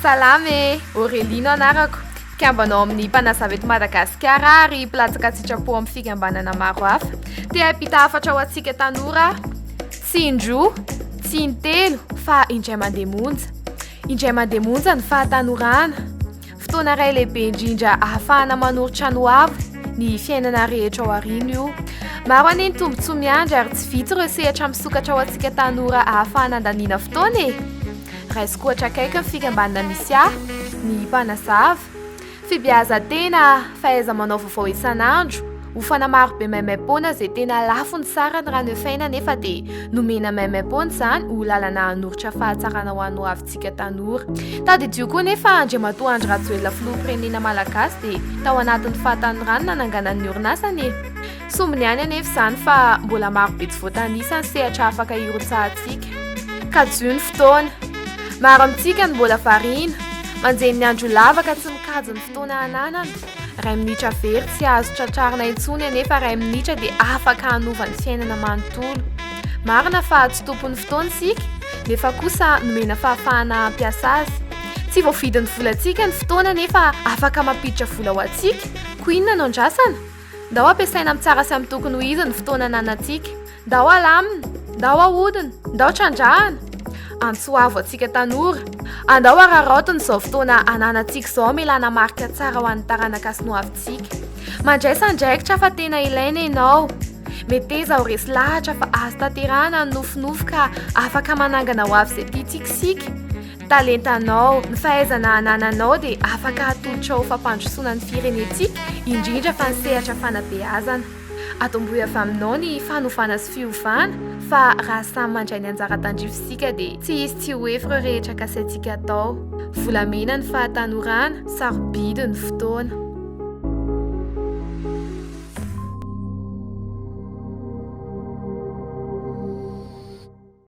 Salama e, Aurélie no anarako. Mpikambanao amin'ny mpanazava eto Madagasikara ary mpilatsaka an-tsitrapo amin'ny fikambanana maro hafa. Te hampita hafatra ho antsika tanora aho. Tsy indroa, tsy intelo fa indray mandeha monja. Indray mandeha monja ny fahatanorana. Fotoana iray lehibe indrindra ahafahana manoro trano ho avo ny fiainana rehetra ao aoriana io. Maro anie ny tombontsoa miandry ary tsy vitsy ireo sehatra misokatra ho antsika tanora ahafahana handaniana fotoana e! Raisiko ohatra akaiky ny fikambanana misy ahy, ny Mpanazava. Fibeazan-tena, fahaiza-manao vaovao isan'andro, ofana marobe maimaim-poana izay tena lafony sarany raha ny efaina anefa dia nomena maimaim-poana izany ho lalana hanoritra fahatsarana ho an'ny hoavintsika tanora. Tadidio koa anefa Andriamatoa Andry Rajoelina Filoham-pirenena Malagasy dia tao anatin'ny fahatanorany nananganany ny orinasany e! Sombiny ihany anefa izany fa mbola maro be tsy voatanisa ny sehatra afaka hirotsahantsika. Kajiho ny fotoana. Maro amintsika no mbola variana, manjehy ny andro lava ka tsy mikajy ny fotoana ananana. Iray minitra very tsy azo tratrarina intsony anefa iray minitra dia afaka hanova ny fiainana manontolo. Marina fa tsy tompon'ny fotoana isika nefa kosa nomena fahafahana hampiasa azy. Tsy voavidin'ny volantsika ny fotoana nefa afaka mampiditra vola ho antsika, koa inona no andrasana? Ndao ampiasaina amin'ny tsara sy amin'ny tokony ho izy ny fotoana ananantsika. Ndao halamina, ndao hahodina, ndao trandrahana. Antsoavo antsika tanora. Andao hararaotina izao fotoana ananantsika izao hamelana marika tsara ho an'ny taranaka sy ny hoavintsika. Mandraisa andraikitra fa tena ilaina ianao. Meteza ho resy lahatra fa azo tanterahana ny nofinofy ka afaka manangana hoavy izay tiantsika isika. Talentanao, ny fahaizana anananao dia afaka atolotra ho fampandrosoana ny firenentsika, indrindra fa ny sehatra fanabeazana. Atombohy avy aminao ny fanovana sy fiovana fa raha samy mandray ny anjara tandrify isika dia tsy hisy tsy ho efy ireo rehetra kasaintsika atao. Volamena ny fahatanorana, sarobidy ny fotoana.